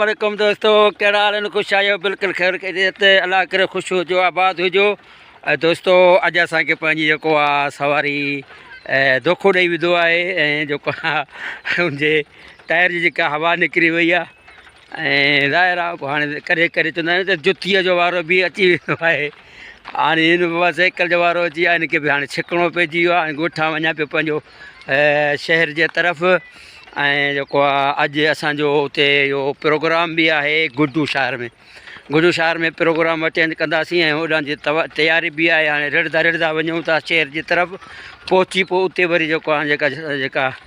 عليڪم دوستو کيڙا حال ان خوش آيو بالکل خير کي دي ته الله کري خوش هو جو آباد هو جو اي دوستو اڄ اسان کي پنهنجي جيڪو آ سواري اي دوکو ڏي ويندو آهي اي جو ڪا ان جي ٽائر جي ڪا هوا نڪري وئي آ ۽ راء راء پوء هاڻي ڪڏهن ڪڏهن چوندا آهيون ته جتيء جو وارو به اچي ويندو آهي. هاڻي هن به بس سائيڪل جو وارو اچي ويو آهي. هن کي به هاڻي ڇڪڻو پئجي ويو آهي. هاڻي ڳوٺان وڃان پيو پنهنجو شهر جي طرف ۽ جيڪو آهي اڄ اسانجو اتي اهو پروگرام به آهي گڊو شهر ۾ گڊو شهر ۾ پروگرام اٽينڊ ڪنداسين ۽ هوڏانهن جي تياري به آهي هاڻي رڙهندا رڙهندا وڃون ٿا شهر جي طرف پهچي پوء اتي وري جيڪو آهي جيڪا جيڪا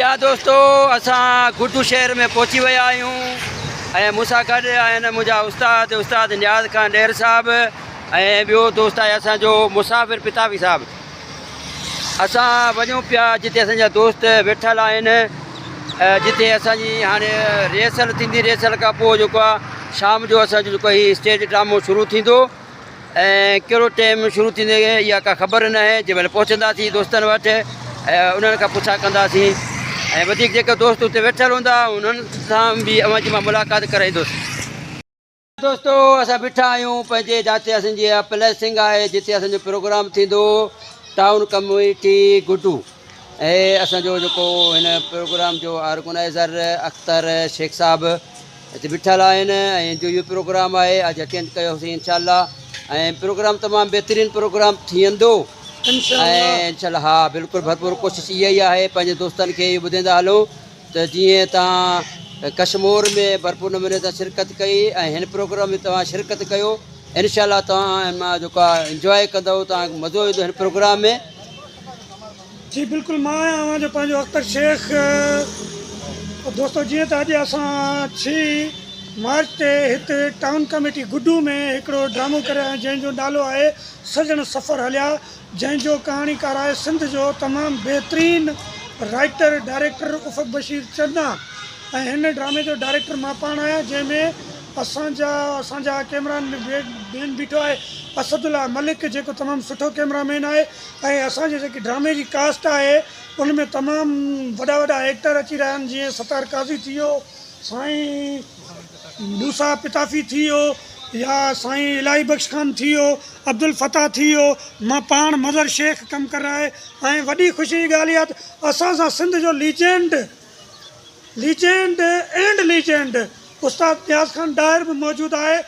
پيارا دوستو اسان گردو شهر ۾ پهچي ويا آهيون ۽ مون سان گڏ آهن منهنجا استاد استاد نياز خان ڏير صاحب ۽ ٻيو دوست آهي اسان جو مسافر پتاوي صاحب اسان وڃون پيا جتي اسان جا دوست ويٺل آهن جتي اسان جي هاڻي ريهرسل ٿيندي ريهرسل کان پوء جيڪو آهي شام جو اسان جو جيڪو هي اسٽيج ڊرامو شروع ٿيندو ۽ ڪهڙو ٽيم شروع ٿيندي اها ڪا خبر ناهي جنهن مهل پهچنداسين دوستن وٽ انهن کان پڇا ڪنداسين ۽ وڌيڪ جيڪي دوست اتي ويٺل هوندا انهن سان به اوهان جي مان ملاقات ڪرائيندس دوستو اسان بيٺا آهيون پنهنجي جاتي اسان جي پليسنگ آهي جتي اسان جو پروگرام ٿيندو ٽائون ڪميٽي گڊو ۽ اسان جو جيڪو هن پروگرام جو آرگنائزر اختر شيخ صاحب اتي بيٺل آهن ۽ جو اهو پروگرام آهي اڄ اٽينڊ ڪيو سين انشاء الله ۽ پروگرام تمام بهترين پروگرام ٿيندو انشاء الله ها بلڪل ڀرپور ڪوشش اها ئي آهي پنهنجي دوستن کي اهو ٻڌيندا هلو ته جيئن تان ڪشمور ۾ ڀرپور نموني تان شرڪت ڪئي ۽ هن پروگرام ۾ توهان شرڪت ڪيو انشاء الله توهان ان مان جيڪا انجوائي ڪندو توهان کي مزو ايندو هن پروگرام ۾ جي بلڪل مان آهيان اوهان جو پنهنجو اختر شيخ دوستو جيئن ته اڄ اسان ڇهي مارچ تي هت ٽائون ڪميٽي گڊو ۾ هڪڙو ڊرامو ڪري آهيون جنهن جو نالو آهي سڄڻ سفر هليا جنهن جو ڪهاڻيڪار آهي سنڌ جو تمام بهترين رائيٽر ڊائريڪٽر افق بشير چنا ۽ هن ڊرامي جو ڊائريڪٽر مان پاڻ آهيان جنهن ۾ اسان جا اسان جا ڪيمرا مين بيٺو آهي اسد الله ملڪ جيڪو تمام سٺو ڪيمرا مين آهي ۽ اسان جي جيڪي ڊرامي جي ڪاسٽ آهي ان ۾ تمام وڏا وڏا ايڪٽر اچي رهيا آهن جيئن ستار قاضي ٿي ويو سائين موسيٰ پتافي ٿي ويو يا سائين الاهي بخش خان ٿي ويو عبدالفتاح ٿي ويو مان پاڻ مظهر شيخ ڪم ڪر رها هي ۽ وڏي خوشي جي ڳالهه اها ته اسان سان سنڌ جو ليجنڊ ليجينڊ اينڊ ليجينڊ استاد نياز خان ڏاهر به موجود آهي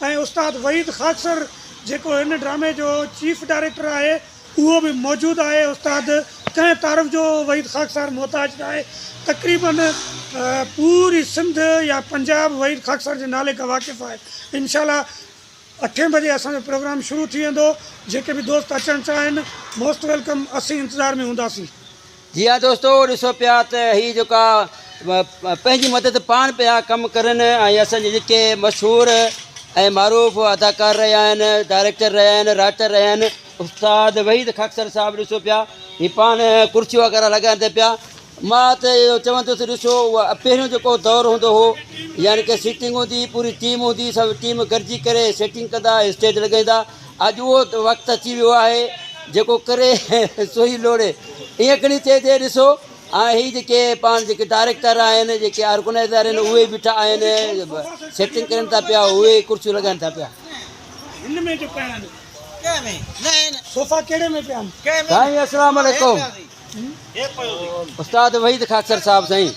۽ استاد وحيد خاڪسر جيڪو هن ڊرامي جو چيف ڊائريڪٽر آهي اهو به موجود آهي استاد ڪنهن تعارف جو وحيد خاڪسار محتاج ناهي تقريبا پوري سنڌ يا پنجاب وحيد خاڪسار جي نالي کان واقف آهي انشاء الله اٺين بجي اسان جو پروگرام شروع ٿي ويندو جيڪي به دوست اچڻ چاهن موسٽ ويلڪم اسين انتظار ۾ هونداسين. جي ها دوستو ڏسو پيا ته هي جيڪا پنهنجي مدد پاڻ پيا ڪم ڪرن ۽ اسان جي جيڪي مشهور ۽ معروف اداڪار رهيا آهن ڊائريڪٽر رهيا آهن رائٽر رهيا آهن استاد وحيد خاڪسر صاحب ڏسو پيا هي پاڻ ڪرسيون وغيره لڳائن تي پيا مان ته اهو چوندس ڏسو اهو پهريون جيڪو دور هوندو هو يعني ڪي سيٽنگ هوندي پوري ٽيم هوندي سڀ ٽيم گڏجي ڪري سيٽنگ ڪندا اسٽيج لڳائيندا اڄ اهو وقت اچي ويو آهي جيڪو ڪري سوئي لوڙي ائين کڻي چئجي ڏسو ها هي جيڪي پاڻ جيڪي ڊائريڪٽر آهن جيڪي آرگنائزر آهن اهي بيٺا آهن سيٽنگ ڪرن ٿا پيا اهي ڪرسيون لڳائن ٿا پيا هن ۾ جو پيا آهن ڪنهن ۾ نه آهن صوفا ڪهڙي ۾ پيا آهن سائين السلام عليڪم استاد وحيد خاڪسر صاحب سائين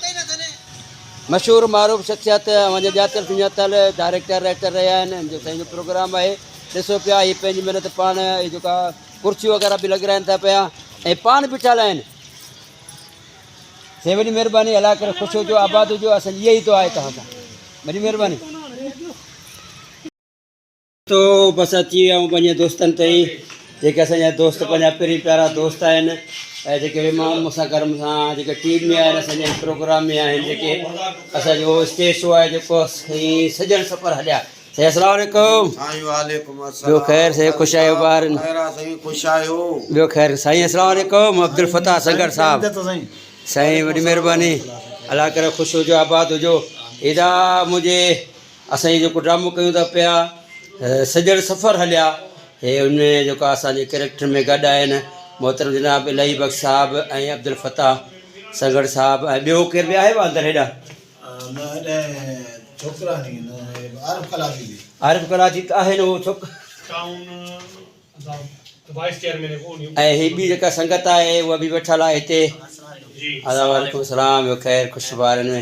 مشهور معروف شخصيت اوهان ڄاتل سڃاتل ڊائريڪٽر رائٽر رهيا آهن ان جو سائين جو پروگرام آهي ڏسو پيا هي پنهنجي محنت پاڻ هي جيڪا ڪرسيون وغيرها به لڳرائن ٿا پيا ۽ پاڻ بيٺا آهن سي وڏي مهرباني الا ڪري خوش هجو آباد هجو اصل اها ئي دعا آهي توهان سان وڏي مهرباني تو بس اچي ويا آهيون پنهنجي دوستن تي ئي جيڪي اسان جا دوست پنهنجا پرين پيارا دوست آهن ۽ جيڪي به ماڻهو مون سان گڏ مون سان جيڪي ٽيم ۾ آهن اسان جي هن پروگرام ۾ آهن جيڪي اسان جو اسٽيج شو آهي جيڪو سائين سڄڻ سفر هليا سائين السلام عليڪم سائين وعليڪم السلام ٻيو خير سائين خوش آهيو ٻار خير آ سائين خوش آهيو ٻيو خير سائين السلام عليڪم عبدالفتاح سنگھڙ صاحب سائين وڏي مهرباني الله ڪري خوش هجو آباد هجو ادا مجھي اسان هي جيڪو ڊرامو ڪيون ٿا پيا سڄڻ سفر هليا هي ان ۾ جيڪا اسانجي ڪريڪٽر ۾ گڏ آهن محترم جناب الهي بخش صاحب ۽ عبدالفتاح سنگهڙ صاحب ۽ ٻيو ڪير ٻيا آهي اندر هيڏا عارف ڪلاچي ته آهن اهو ڇوڪرو ۽ هي ٻي جيڪا سنگت آهي اها به ويٺل آهي هتي ادا وعليڪم السلام ٻيو خير خوش بارن ۾